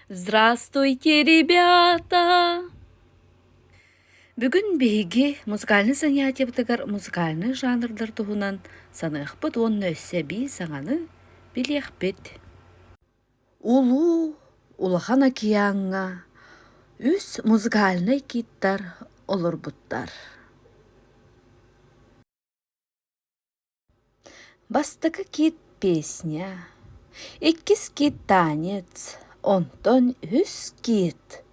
Здравствуйте, ребята! Бүгүн биһиги музыкальнай занятиебытыгар музыкальнай жанрдар туһунан саныахпыт уонна өссө эбии саҥаны билиэхпит. Улуу Улахан океаҥҥа үс музыкальнай киттар олорбуттар. бастакы кит песня иккис кит танец онтон үһүс кит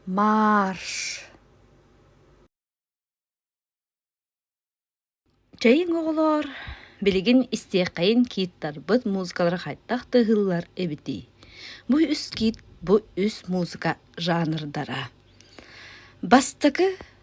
марш чэйиҥ оҕолоор билигин истиэххэйин кииттарбыт музыкалара хайдах тыаһыыллар эбитий бу үс кит бу үс музыка жанрдара бастакы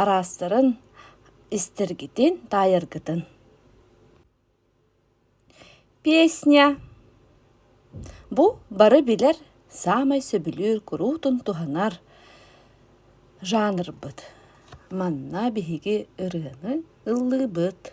араастарын истэргитин таайаргытын песня бу бары билэр саамай сөбүлүүр куруутун туһанар жанрбыт манна биһиги ырыаны ыллыыбыт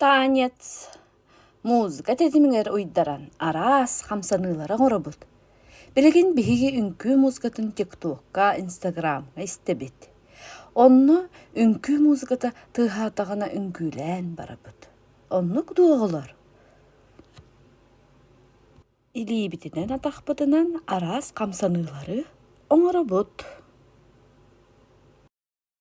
Танец музыка тэтимигэр уйдаран араас хамсаныылары оҥоробут. Билигин биһиги үҥкүү музыкатын ТикТокка, Инстаграмҥа истэбит. Онно үҥкүү музыката тыаһаатаҕына үҥкүүлээн барабыт. Оннук дуоҕулар илиибитинэн атахпытынан араас хамсаныылары оҥоробут.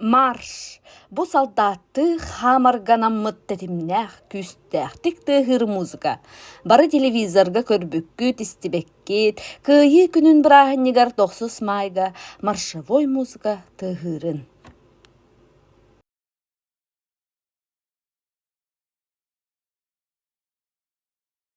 Марш! Бу салдааттыы хаамарганаммыт тэтимнээх, күүстээхтик тыаһыыр музыка. Бары телевизорга көрбүккүт, истибэккит, Кыайыы күнүн бырааһынньыгар тохсус маайга маршевой музыка тыаһыырын.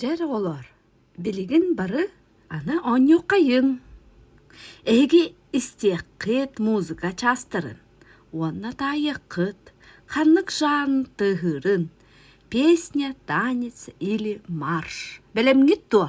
Дьэр оҕолоор, билигин бары аны оонньуоххайыҥ. Эһиги истиэххит музыка чаастарын уонна таайыаххыт ханнык жанр тыаһыырын песня танец или марш бэлэмҥит дуо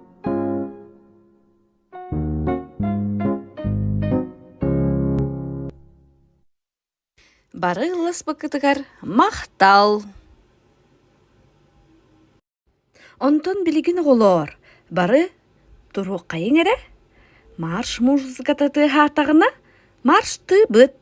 Бары ылласпыккытыгар махтал! Онтон билигин оҕолоор, бары туруоххайыҥ эрэ. Марш музыката тыаһаатаҕына, марштыбыт!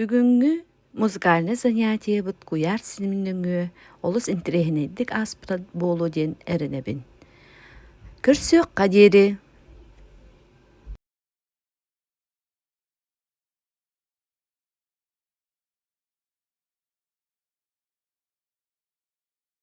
Бүгүҥҥү музыкальнай занятиебыт куйаар синим нөҥүө олус интириэһинэйдик ааспыта буолуо диэн эрэнэбин. Көрсүөххэ диэри